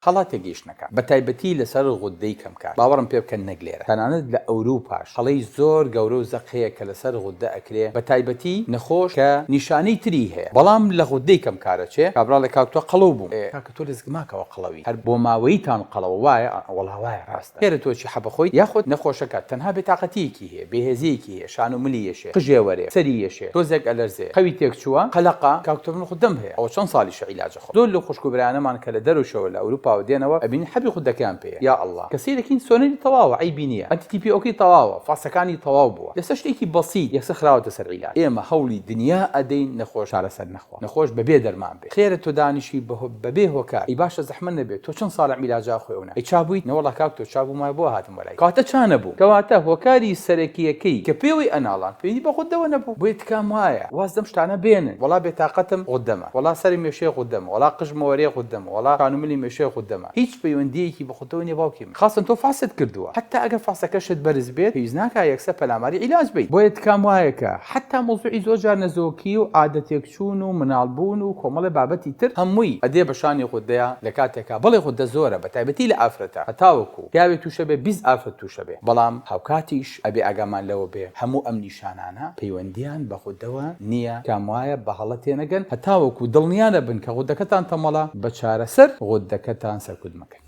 هەڵە تێگەیشتنەکان بە تایبەتی لەسەر غوددەی کەمکار باوەڕم پێ بکەن نەک لێرە تەنانەت لە ئەوروپاش هەڵەی زۆر گەورە و زەق هەیە کە لەسەر غوددە ئەکرێ بە تایبەتی نەخۆش کە نیشانەی تری هەیە بەڵام لە غوددەی کەمکار ئەچێ کابراڵێ کاک تۆ قەڵەو بووم ئێ کاکە تۆ لەسک ماکەوە قەڵەوی هەر بۆ ماوەیی تان قەڵەوە وایە ئا وەڵا وایە ڕاستە ئێرە تۆ چی حەپە خۆیت یاخود نەخۆشەکە تەنها بێتاقەتییەکی هەیە بێهێزییەکی هەیە شان و ملی یەشێ قژێ وەرێ سەری یەشێ تۆزێک ئەلەرزێ خەوی تێک چووە قەلەقە کاک تۆ من غوددەم هەیە ئەوە چەند ساڵیشە عیلاجە خدۆ لەو خوشکو برایانەمان کە لە دەرەو شەوە لە ئەوروپاوە دێنەوە ئەبینی حەبی خودەکەیان پێیە یا اللە کە سەیرەکەین سۆنەری تەواوە عەیبی نیە ئەنتی تی پی ئۆکەی تەواوە فاسەکانی تەواو بووە لەسەر شتێکی بەسیت یەکسەر خراوەتە سەر عیلاج ئێمە هەوڵی دنیا ئەدەین نەخۆش چارەسەر نەخوا نەخۆش بەبێ دەرمان بێ خێرە تۆ دانیشی بە بەبێ هۆکار ئەی باشە زەحمەت نەبێ تۆ چەند ساڵە عیلاجە ئەخۆی ئەونە ئەی چا بوویت نەوەڵا کاک تۆ چا بوومایە بۆ هاتم وەلای کەواتە چا نەبووم کەواتە هۆکاری سەرەکیەکەی کە پێوەی ئەناڵان پەیوەندی بە غودەوە نەبوو بۆیە تکام وایە واز لەم شتانە بێنن وەڵا بێتاقەتم غودە وەڵا سەری مێشێ غودەمە وەڵا قژ مۆرێ غودەمە وەڵا کان و ملی مێشێ غودەمە هیچ پەیوەندیەکی بە خودەوە نیە باوکی من خاصەن تۆ فاست کردوە حەتا ئەگەر فاستەکەشت بەرز بێت پێویست ناکا یەکسەر پەلاماری عیلاج بەیت بۆیە تکام وایە کە حەتا مەوزوعی زۆر جار نەزۆکی و عادە تێکچوون و مناڵ بوون و کۆمەڵێ بابەتی تر هەمووی ئەدێ بە شانی غودەیا لە کاتێکا بەڵێ غودە زۆرە بە تایبەتی لە ئافرەتا هەتاوەکو پیاوێ توشەبێ بیست ئافرەت توشەبێ بەڵام هاوکاتیش ئەبێ ئاگامان لەوە بێ هەموو ئەم نیشانانە پەیوەندییان بە غودەوە نییە، تکام وایە بە هەڵە تێنەگەن هەتاوەکو دڵنیا نەبن کە غودەکەتان تەمەڵە، بە چارەسەر غودەکەتان سەرکوت مەکەن.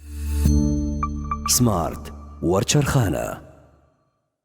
سمارت وەرچەرخانە.